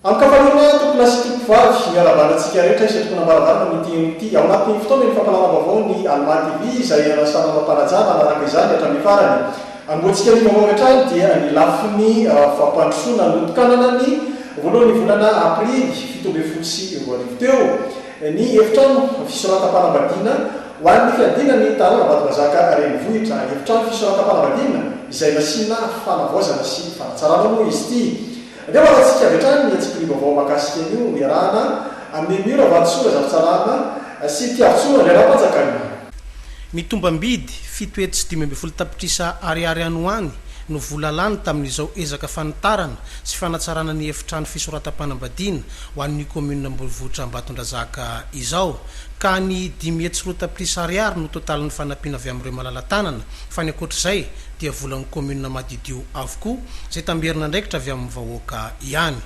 Amin-kafaliana, tompolahy sy tompovavy, miarabanda antsika rehetra izay tokony hambaravara amin'ity henoana ity. Ao anatin'ny fotoana eny Fampahalalam-baovao ny Almà TV izay ialasa manao mpanajana hanaraka izany hatramin'ny farany. Anombohantsika ny vaovao avy hatrany dia ny lafiny fampandrosoana notokanana ny voalohan'ny volana Aprily fito ambin'ny folo sy roa arivo teo ny efitrano fisoratam-panambadiana ho an'ny fiadiana ny tanàna Vatomazaka renivohitra. Efitrano fisoratam-panambadiana izay nasiana fanavaozana sy fanatsarana moa izy ity. Aleo hatantsika avy hatrany ny antsipiriha vaovao mahakasika an'io iarahana amin'i Emmy Ravahatosora Zafitsarana sy Mpiarotsoa Andry Rampanjakariana. Ny tombam-bidy fito hetsy sy dimy ambin'ny folo tapitrisa Ariary any ho any no vola lany tamin'izao ezaka fanitarana sy fanatsarana ny efitrano fisoratam-panambadiana ho an'ny kaominina Ambohivohitra Ambatondrazaka izao ka ny dimy hetsy sy roa tapitrisa Ariary no totalin'ny fanampiana avy amin'ireo malala-tanana fa ny ankoatr'izay dia volan'ny kaominina madidio avokoa, izay tamberin'andraikitra avy amin'ny vahoaka ihany.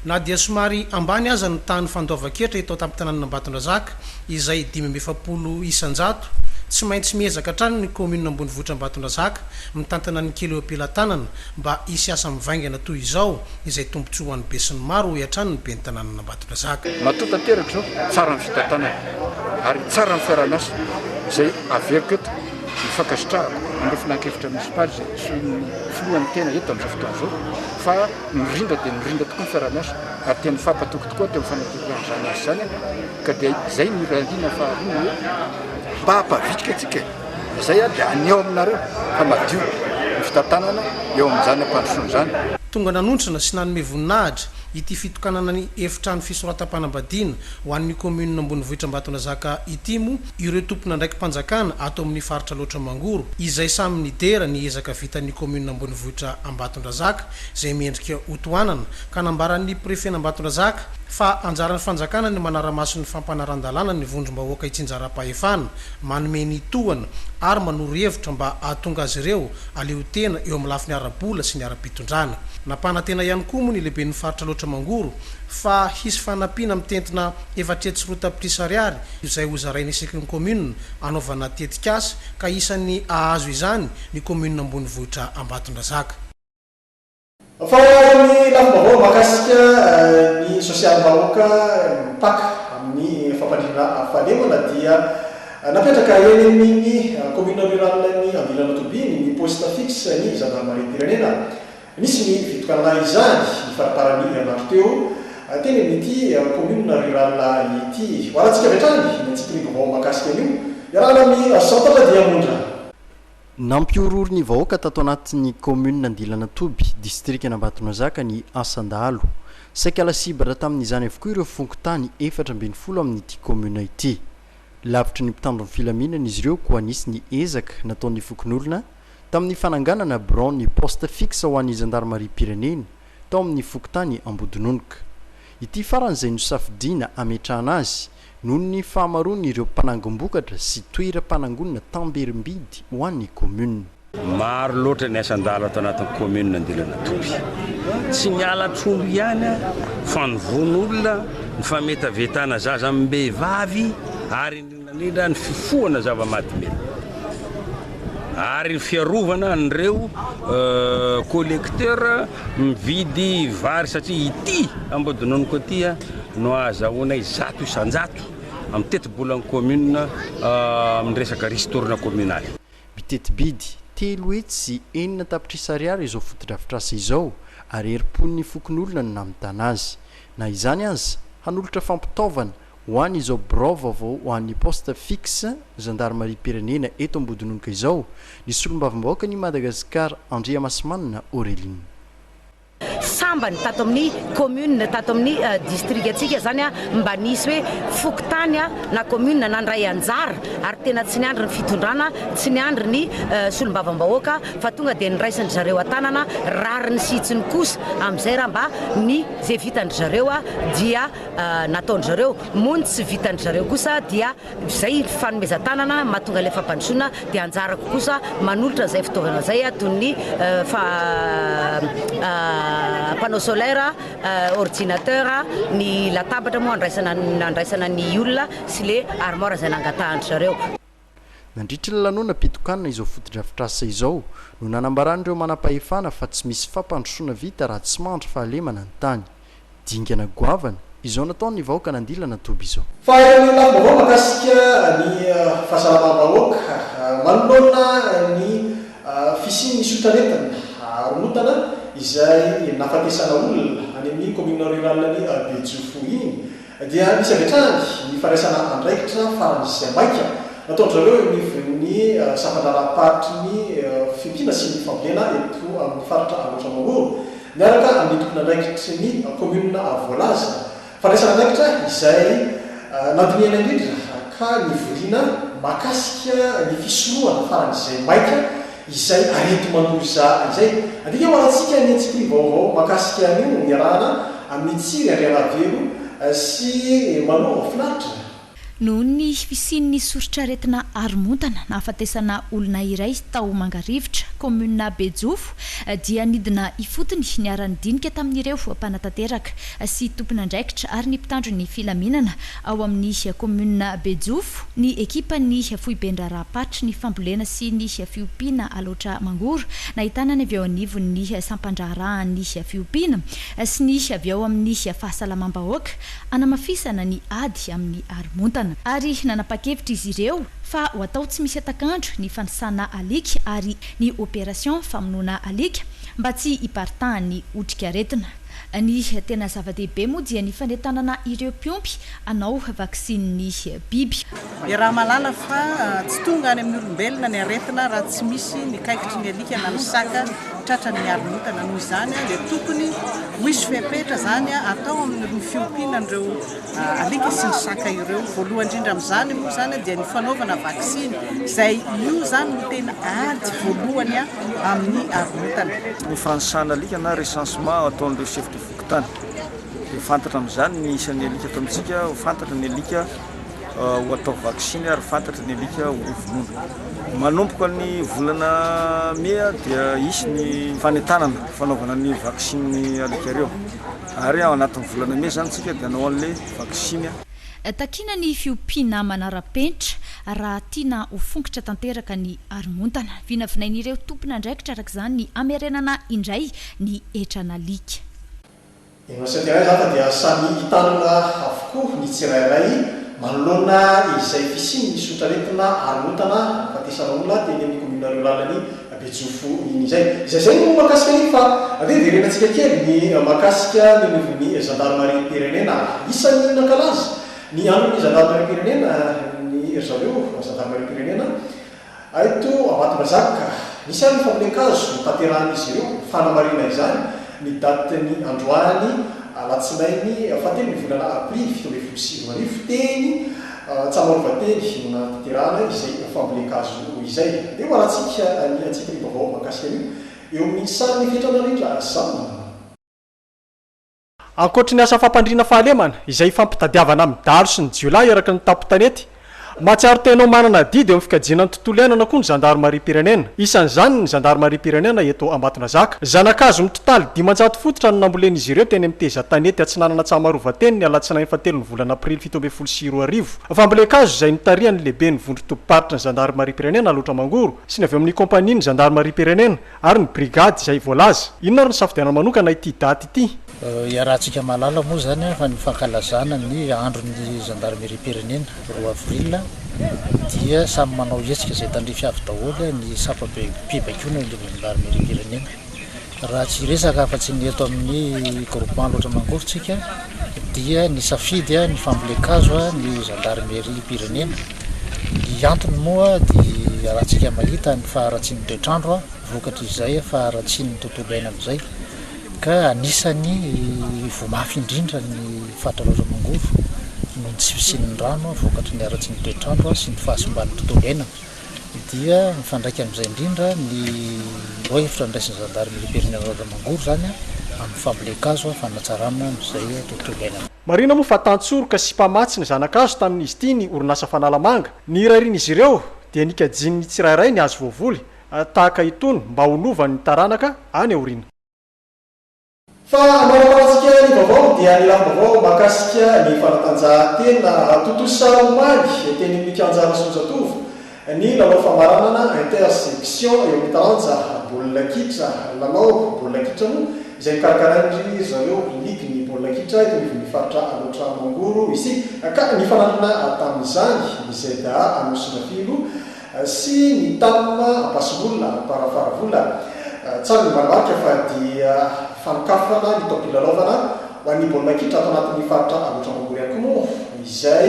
Na dia somary ambany aza ny tahan'ny fandoavan-ketra eto an-tampon-tanànan'Ambatondrazaka, izay dimy amby efapolo isan-jato, tsy maintsy miezaka hatrany ny kaominina ambonivohitr'Ambatondrazaka mitantana ny kely eo am-pelatanana mba hisy asa mivaingana toy izao izay tombontsoa ho an'ny besinimaro, hoy hatrany ny ben'ny tanànan'Ambatondrazaka. Matoa tanteraka izao, tsara ny fitantanana ary tsara ny fiaraha-miasa izay averiko eto. Ny fankasitrahako an'ireo filankevitra monisipaly izay antsoin'ny filoha ny tena eto amin'izao fotoana izao fa mirindra dia mirindra tokoa ny fiaraha-miasa ary tena mifampatoky tokoa teo amin'ny fanatanterahana izany asa izany ka dia izay no iray andininy faharoa ny hoe mba hampavitrika antsika e! izay ary dia haneho aminareo fa madio ny fitantanana eo amin'izany ampandrosoana izany. Tonga nanontrona sy nanome voninahitra ity fitokanana ny efitrano fisoratam-panambadiana ho an'ny kaominina ambonivohitr'Ambatonazaka ity moa ireo tompon'andraiki-panjakana ato amin'ny faritra Alaotra Mangoro, izay samy nidera ny ezaka vitan'ny kaominina ambonivohitra Ambatondrazaka, izay miendrika ho tohanana, ka nambaran'ny prefen'Ambatondrazaka fa anjaran'ny fanjakana ny manara-maso ny fampanaran-dalàna ny vondrom-bahoaka itsinjaram-pahefana, manome ny tohana ary manoro hevitra mba hahatonga azy ireo haleho tena eo amin'ny lafiny ara-bola sy ny ara-pitondrana. Nampanantena ihany koa moa ny lehiben'ny faritra Alaotra Mangoro fa hisy fanampiana mitentina efatretsy sy roa tapitrisa ariary izay hozaraina isaky ny kaominina hanaovana tetikasa ka isan'ny hahazo izany ny kaominina ambonivohitra Ambatondrazaka. Mifamaly amin'ny lafim-baovao mahakasika ny sosialim-bahoaka mipaka amin'ny fampandriana fahalemana dia napetraka eny amin'ny kaominina rurale-n'i Andilanao Toby ny poste fixe-n'ny zandarmariam-pirenena. Nisy ny fitokanana izany ny fariparan'ny herinandro teo, teny amin'ity kaominina riraly ity. Hoalantsika avy hatrany ny antsipirihim-baovao mahakasika an'io, iarahana amin'i Santatra Diamondra. Nampihorohoro ny vahoaka tato anatin'ny kaominina Andilanatoby, distrikan'Ambatonazaka ny asan-dahalo. Saika lasibatra tamin'izany avokoa ireo fokontany efatra ambin'ny folo amin'ity kaominina ity. Lavitry ny mpitandro ny filaminana izy ireo koa nisy ny ezaka nataon'ny fokonolona, tamin'ny fananganana biraon'ny poste fixe ho an'ny zandarimariam-pirenena tao amin'ny fokontany Ambodinonoka. Ity farany izay nosafidiana hametrahana azy noho ny fahamaroan'ireo mpanangom-bokatra sy toeram-panangonana tamberim-bidy ho an'ny kaominina. Maro loatra ny asan-dala ato anatin'ny kaominina Andilanatoby. Tsy ny halatr'omby ihany, fa ny vono olona, ny fametavetana zaza amim-behivavy, ary ny. Nanendra ny fifohana zava-mahadomelina ary ny fiarovana an'ireo collecteurs mividy vary satria ity Ambodononoko ity no ahazahoanay zato isan-jato amin'ny tetibolan'ny commune amin'ny resaka ristourne communal. Miteti-bidy telo hetsy sy enina tapitrisa ariary izao fotodrafitrasa izao ary herim-pon'ny fokonolona no namitana azy. Na izany aza, hanolotra fampitaovana Ho an izao birao vaovao ho an ny poste fixe zandarimariam-pirenena eto Ambodinonoka izao ny solombavambahoakan i Madagasikara Andriamasimanana Aureline. Sambany tato amin ny commune tato amin ny district ntsika izany mba nisy hoe fokontany na commune nandray anjara ary tena tsy niandry ny fitondrana tsy niandry ny solombavambahoaka fa tonga dia niraisin dry zareo an-tanana rariny sy hitsiny kosa amin izay raha mba ny izay vitan dry zareo dia nataon-dry zareo moa ny tsy vitan-dry zareo kosa dia izay fanomezan-tanana mahatonga ilay fampandrosoana dia anjarako kosa manolotra izay fitaovana izay toy ny panneau solaire, ordinateur, ny latabatra moa andraisana ny olona sy ilay armoire izay nangatahan-dry zareo. Nandritry ny lanonam-pitokanana izao fotodrafitrasa izao no nanambaran'ireo manampahefana fa tsy misy fampandrosoana vita raha tsy mandry fahalemana ny tany. Dingana goavana izao nataon'ny vahoaka nandilana toby izao. Fa eo amin'ny tanim-baovao mahakasika ny fahasalamam-bahoaka, manoloana ny fisian'ny sotrarentina haromontana izay nahafatesana olona any amin'ny kaominina ruralin'i Bejofo iny, Dia misy avy hatrany ny fandraisana andraikitra farany sy maika nataon-dry zareo eo anivon'ny sampan-draharaham-paritry ny fintiana sy ny fambolena eto amin'ny faritra Alaotra Maory miaraka amin'ny tompon'andraikitry ny kaominina voalaza. Fandraisana andraikitra izay nandinihana indrindra ka nivoriana mahakasika ny fisorohana faran'izay maika izay arety manory izany izay. Andika ho alantsika ny an-tsimpy vaovao mahakasika an'io niarahana amin'i Tsiry Andriaravelo sy Manova Finaritra. Noho ny fisian'ny soritr'aretina haromontana nahafatesana olona iray tao Mangarivotra, kaominina Bejofo dia nidina ifotony niara-nidinika tamin'ireo mpanatanteraka sy tompon'andraikitra ary ny mpitandro ny filaminana Ao amin'ny kaominina Bejofo, ny ekipan'ny foiben-draharaham-paritry ny fambolena sy ny fiompiana Alaotra Mangoro, nahitana ny avy eo anivon'ny sampan-draharahan'ny fiompiana sy ny avy ao amin'ny fahasalamam-bahoaka, hanamafisana ny ady amin'ny haromontana. Ary nanapa-kevitra izy ireo fa ho atao tsy misy hatak'andro ny fanisana alika ary ny opération famonoana alika mba tsy hiparitahan'ny otrikaretina. Ny tena zava-dehibe moa dia ny fanentanana ireo mpiompy hanao vaksinin'ny biby. Iaraha mahalala fa tsy tonga any amin'ny olombelona ny aretina raha tsy misy ny kaikitry ny alika na ny saka tratran'ny miaromontana. Noho izany dia tokony ho hisy fepetra izany atao amin'irny fiompiana an'ireo Alika sy ny saka ireo. Voalohany indrindra amin'izany moa izany dia ny fanaovana vaksiny, izay io izany no tena ady voalohany amin'ny arintana. Ny fanisana alika na recensement ataon'ireo chef de fokontany. Dia fantatra amin'izany ny isan'ny alika eto amintsika, ho fantatra ny alika ho atao vaksiny ary fantatra ny alika hovonoina. Manomboka ny volana mey dia hisy ny fanentanana fanaovana ny vaksiny alika ireo. Ary ao anatin'ny volana mey izany isika dia hanao an'ilay vaksiny. Takiana ny fiompiana manara-penitra raha tiana ho fongotra tanteraka ny haromontana. Vinavinain'ireo tompon'andraikitra araka izany ny hamerenana indray ny hetran'alika. Eny amintsika iray izany fa dia samy hitanana avokoa ny tsirairay manoloana izay fisian'ny sotraretina haromontana hahafatesana olona teny amin'ny kaominin'Areolalany Abetsofo iny izay. Izay izay no mahakasika iny fa ve verenantsika kely ny mahakasika ny anivon'ny zandarimariam-pirenena ary isan'ny nankalaza ny andron'ny zandarimariam-pirenena ny ry zareo zandarimariam-pirenena eto Ambatondrazaka ka nisy ary ny fambolen-kazo notaterahan'izy ireo ho fanamarihana izany ny datin'ny androany alatsinainy fahatelo ny volana aprily fito ambin'ny folo sy roa arivo teny Antsamorovateny no nanantitirana izay fambolen-kazo izay. Dia ho alantsika ny antsipiriany vaovao mahakasika an'io eo amin'ny sarin'ny efitra narindra zandary. Ankoatry ny asa fampandriana fahalemana izay ifampitadiavana amin'ny dahalo sy ny jiolahy eraky ny tampon-tanety, mahatsiaro tena ho manana adidy eo amin'ny fikajiana ny tontolo iainana koa ny zandarimariam-pirenena. Isan'izany ny zandarimariam-pirenena eto Ambatonazaka. Zana-kazo mitotaly dimanjato fototra no nambolen'izy ireo teny amin'ny Tezan-tanety Atsinanana Antsamarovateny ny alatsinainy fahatelon'ny volana aprily fito ambin'ny folo fitopolo sy roa arivo. Fambolen-kazo izay notarihan'ny lehiben'ny vondron-tobim-paritry ny zandarimariam-pirenena Alotra Mangoro sy ny avy amin'ny kaompanian'ny zandarimariam-pirenena ary ny brigady izay voalaza. Inona ary ny safidianana manokana ity daty ity? Iarahantsika mahalala moa izany fa ny fankalazana ny andron'ny zandarimeriam-pirenena roa avril dia samy manao hetsika izay tandrify avy daholo ny sampam-pibaikoana eo anivon'ny zandarimeriam-pirenena. raha tsy hiresaka afa-tsy ny eto amin'ny groupement loatra mangoro tsika dia ny safidy ny fambolen-kazo ny zandarimeriam-pirenena, ny antony moa dia raha tsika mahita ny faharatsian'ny toetr'andro vokatr'izay faharatsian'ny tontolo iainana izay ka anisan'ny voa mafy indrindra ny faritra loatra mangoro noho ny tsy fisian'ny rano vokatry ny haratsian'ny toetr'andro sy ny fahasimban'ny tontolo iainana. dia mifandraika amin'izay indrindra ny ireo hevitra niraisin'ny zandary milobelin'i Razamangory izany amin'ny fambolen-kazo fanatsarana izay tontolo iainana. Marihina moa fa tantsoroka sy mpamatsy ny zana-kazo tamin'izy ity ny orinasa Fanalamanga. Nirarian'izy ireo dia nikajian'ny tsirairay ny hazo voavoly tahaka itony mba ho lovan'ny taranaka any aoriana. Fa manambarantsika ny vaovao dia ny lamim-baovao mahakasika ny fanatanjahantena tontosa omaly teny amin'ny kianjan'i Soanjatovo ny lalao famaranana inter-section eo amin'ny taranja baolina kitra, lalao baolina kitra moa izay nokarakarain'ry zareo ligin'ny baolina kitra eto anivon'ny faritra Alaotra Mangoro isika ka nifanandrina tamin'izany ny ZA Anosimafiloha sy ny tam ampasimolona ary amparafaravola tsara ny manamarika fa dia fanokafana ny taom-pilalaovana ho an'ny baolina kitra ato anatin'ny faritra Alaotra Mangoro ihany koa moa izay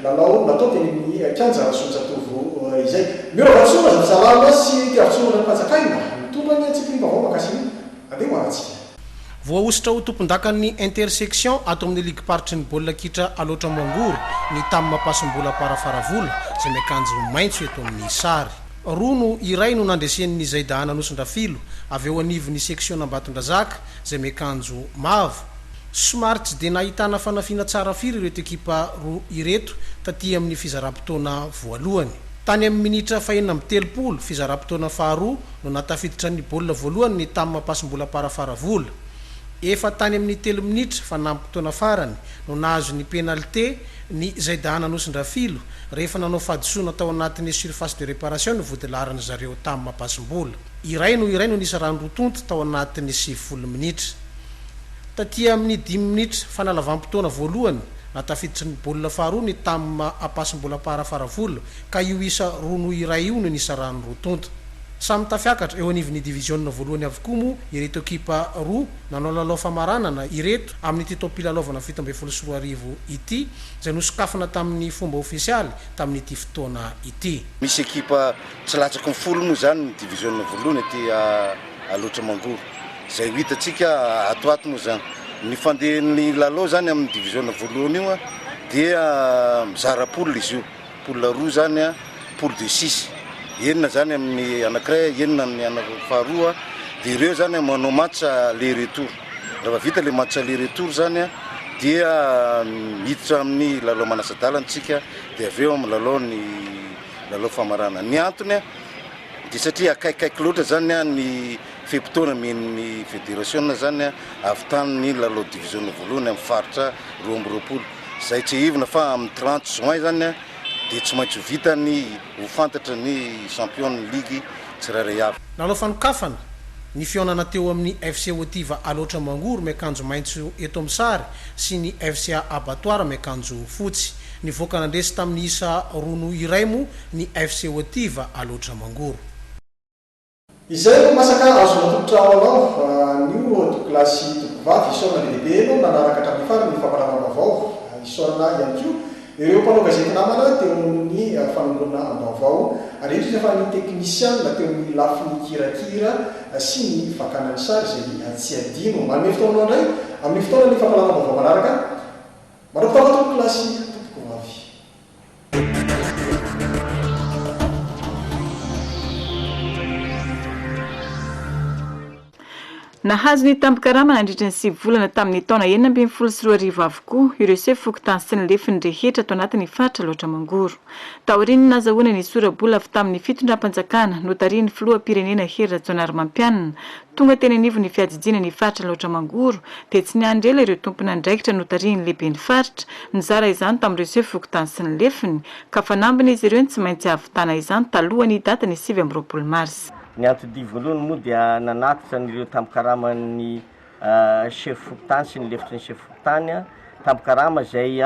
lalao natao teny amin'ny kianja Rasoanjatovo izay. Miora Vatosoa Razafintsalama sy Mpiaro Tsorona ny Panjak'aina mitondra ny antsipiriam-baovao makasihina handeha ho anantsika. Voahosotra ho tompondakan'ny Intersection ato amin'ny ligim-paritry ny baolina kitra Alaotra Moangory ny Tam Mampasimbola Para Faravola izay miakanjo maitso eto amin'ny sary. Roa no iray no nandresen'ny Zaidaan Anosindrafilo avy eo anivon'ny seksion'Ambatondrazaka izay miakanjo mavo. Somary tsy dia nahitana fanafiana tsara firy ireto ekipa roa ireto taty amin'ny fizaram-potoana voalohany. Tany amin'ny minitra fahenina amby telopolo, fizaram-potoana faharoa, no nahatafiditra ny baolina voalohany ny tamin'ny mampasim-bola am-parafaravola. Efa tany amin'ny telo minitra fanampim-potoana farany no nahazo ny penalite ny Zaidahana Anosindrafilo rehefa nanao fahadisoana tao anatin'ny surface de reparation ny vodilaharan'ny zareo tamin'ny mampasim-bola. Iray no iray no nisy rano roa tonta tao anatin'ny sivifolo minitra. Taty amin'ny dimy minitra fanalavam-potoana voalohany, nahatafiditra ny baolina faharoa ny tamin'ny mampasim-bola am-parafaravola, ka io isa roa noho iray io no nisarahan'ny roa tonta. Samy tafiakatra eo anivon'ny diviziona voalohany avokoa moa ireto ekipa roa nanao lalao famaranana ireto amin'ity taom-pilalaovana fito ambin'ny folo sy roa arivo ity, izay nosokafana tamin'ny fomba ofisialy tamin'ity fotoana ity. Misy ekipa tsy latsaky ny folo moa izany ny diviziona voalohany aty Alaotra Mangoro, izay ho hitantsika atoato moa izany. Ny fandehan'ny lalao izany amin'ny diviziona voalohany io dia mizara poule izy io. Poule roa zany a, poule de six, enina zany amin'ny anakiray, enina amin'ny anaky faharoa, dia ireo zany a manao match aller retour, rehefa vita le match aller retour zany a dia miditra amin'ny lalao manasa-dalana tsika dia avy eo amin'ny lalao ny lalao famarana. Ny antony a dia satria akaikikaiky loatra zany a ny fe-potoana omen'ny federasiona zany a avy tany ny lalao diviziona voalohany amin'ny faritra roa amby roapolo. Izay tsiahivina fa amin'ny trente juin izany dia tsy maintsy ho vita ny ho fantatra ny champion-n'ny ligy tsirairay avy. Nanao fanokafana ny fihaonana teo amin'ny FC Otiva Alaotra Mangoro miakanjo maitso eto amin'ny sary sy ny FCA Abattoir miakanjo fotsy. Nivoaka nandresy tamin'ny isa roa noho iray moa ny FC Otiva Alaotra Mangoro. Izay no masaka azo natolotra ho anao fa anio tompokolahy sy tompokovavy isaorana be dia be enao nanaraka hatramin'ny farany ny fampanaovam-baovao. Isaorana ihany koa ireo mpanao gazety namana teo amin'ny fanongonana am-baovao ary indrindra fa ny teknisiana teo amin'ny lafiny hirakira sy ny fakana ny sary izay tsy adino. Manome fotoana anao indray amin'ny fotoanan'ny fampahalalam-baovao manaraka. Mandram-pitafa tompokolahy sy tompokovavy. Nahazo ny tambin-karama nandritra ny sivy volana tamin'ny taona enina ambin'ny folo sy roa arivo avokoa ireo sefo fokontany sy ny lefiny rehetra ato anatin'ny faritra Alaotra Mangoro. Taorian'ny nazahoana ny sora-bola avy tamin'ny fitondram-panjakana notarihin'ny filoham-pirenena Hery Rajaonarimampianina, Tonga teny anivon'ny fiadidiana ny faritra Alaotra Mangoro dia tsy niandry ela ireo tompon'andraikitra notarihin'ny lehiben'ny faritra nizara izany tamin'ireo seho fokontany sy ny lefiny ka fanambiny izy ireo ny tsy maintsy hahavitana izany talohan'ny datin'ny sivy amby roapolo marsa. Ny antodia voalohany moa dia nanatitra an'ireo tambin-karaman'ny seho fokontany sy ny lefitry ny seho fokontany, tambin-karama izay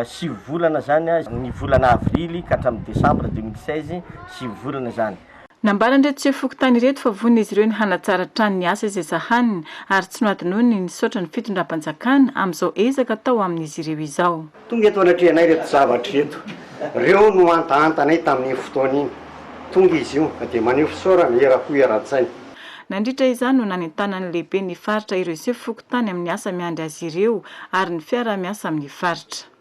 sivy volana izany, ny volana avrily ka hatramin'ny desambra deux mille seize, sivy volana izany. Nambaran'ireto sefo fokontany ireto fa vonon'izy ireo ny hanatsara hatrany ny asa izay sahaniny ary tsy nohadinoiny ny nisaotra ny fitondram-panjakana amin'izao ezaka atao amin'izy ireo izao. Tonga eto anatrehanay ireto zavatra ireto. Ireo no hantahantanay tamin'iny fotoana iny. Tonga izy io dia maneho fisaorana eram-po eran-tsaina. Nandritra izany no nanentanan'ny lehiben'ny faritra ireo sefo fokontany amin'ny asa miandry azy ireo ary ny fiaraha-miasa amin'ny faritra.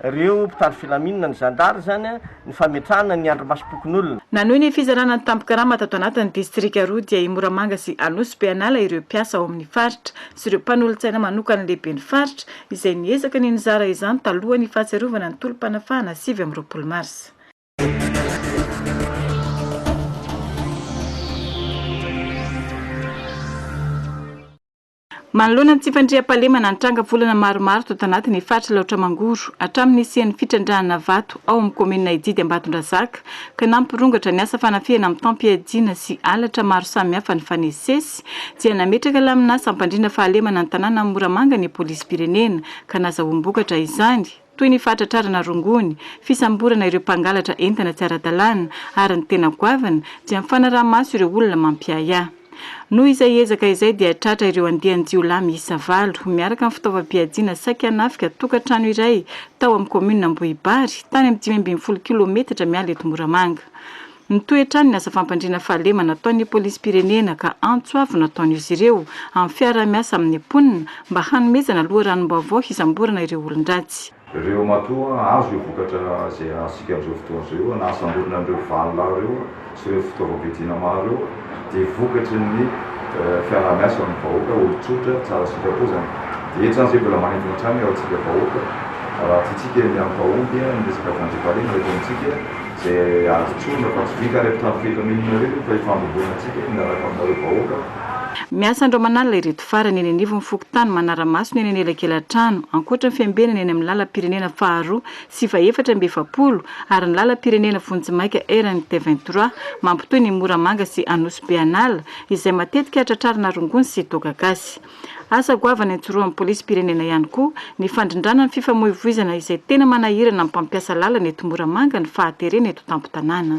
reo mpitandro filaminana, ny zandary zany an, ny fametrahana ny andrimasom-pokonolona. Nanohy ny fizarana ny tambin-karama tato anatin'ny distrika roa dia i Moramanga sy Anosy be hanala ireo mpiasa ao amin'ny faritra sy ireo mpanolotsaina manokan'ny lehiben'ny faritra izay niezaka ny nizara izany talohan'ny fahatsiarovana ny tolom-panafahana sivy amby roapolo marsa. Manoloana ny tsy fandriampahalemana, nitranga volana maromaro tato anaty ny faritra Alaotra Mangoro, hatramin'ny nisian'ny fitrandrahana vato ao amin'ny kaominina Ididy Ambatondrazaka, ka nampirongatra ny asa fanafihana mitam-piadiana sy halatra maro samihafa nifanesisesy, dia nametraka laminasa hampandrindra fahalemana ny tanànan'i Moramanga ny Polisim-pirenena, ka nazahoam-bokatra izany. toy ny fahatratrarana rongony, fisamborana ireo mpangalatra entana tsy ara-dalàna ary ny tena goavana dia ny fanaraha-maso ireo olona mampiahiahy. Noho izay ezaka izay dia tratra ireo andian-jiolahy miisa valo miaraka amin'ny fitaovam-piadiana saiky hanafika tokantrano iray tao amin'ny kaominina Ambohibary, tany amin'ny dimy ambin'ny folo kilaometatra miala eto Moramanga. Mitohy hatrany ny asa fampandriana fahalemana ataon'ny polisim-pirenena ka antso avo no ataon'izy ireo amin'ny fiaraha-miasa amin'ny mponina mba hanomezana loharanom-baovao hisamborana ireo olon-dratsy. Ireo matoa hahazo ireo vokatra izay azontsika amin'izao fotoana izao eo na hahasamborina an'ireo valo lahy ireo sy ireo fitaovam-piadiana maro ireo dia vokatry ny fiaraha-miasa amin'ny vahoaka, olon-tsotra, tsara sitrapo izany. Dia eto izany izay mbola manintona hatrany ao amintsika vahoaka raha tiantsika ny hampahomby ny resaka fampandriam-pahalemana eto amintsika. Izay azo tsorina fa tsy vita ary amin'ny trano fahefana inona ireny no efa ifandrobona antsika miaraka aminareo vahoaka. Miasa andro aman'alina ireto farany eny anivon'ny fokontany Manaramaso ny any anelakelantrano, ankoatra ny fiambenana eny amin'ny lalam-pirenena faharoa sy fahefatra amby efapolo ary ny lalam-pirenena vonjimaika RNT vingt trois mampitohy ny Moramanga sy Anosibe an'ala izay matetika tratrarina rongony sy toaka gasy. Asa goavana ijoroan'ny polisim-pirenena ihany koa ny fandrindrana ny fifamoivoizana izay tena manahirana ny mpampiasa lalana eto Moramanga ny fahaterena eto tampon-tanàna.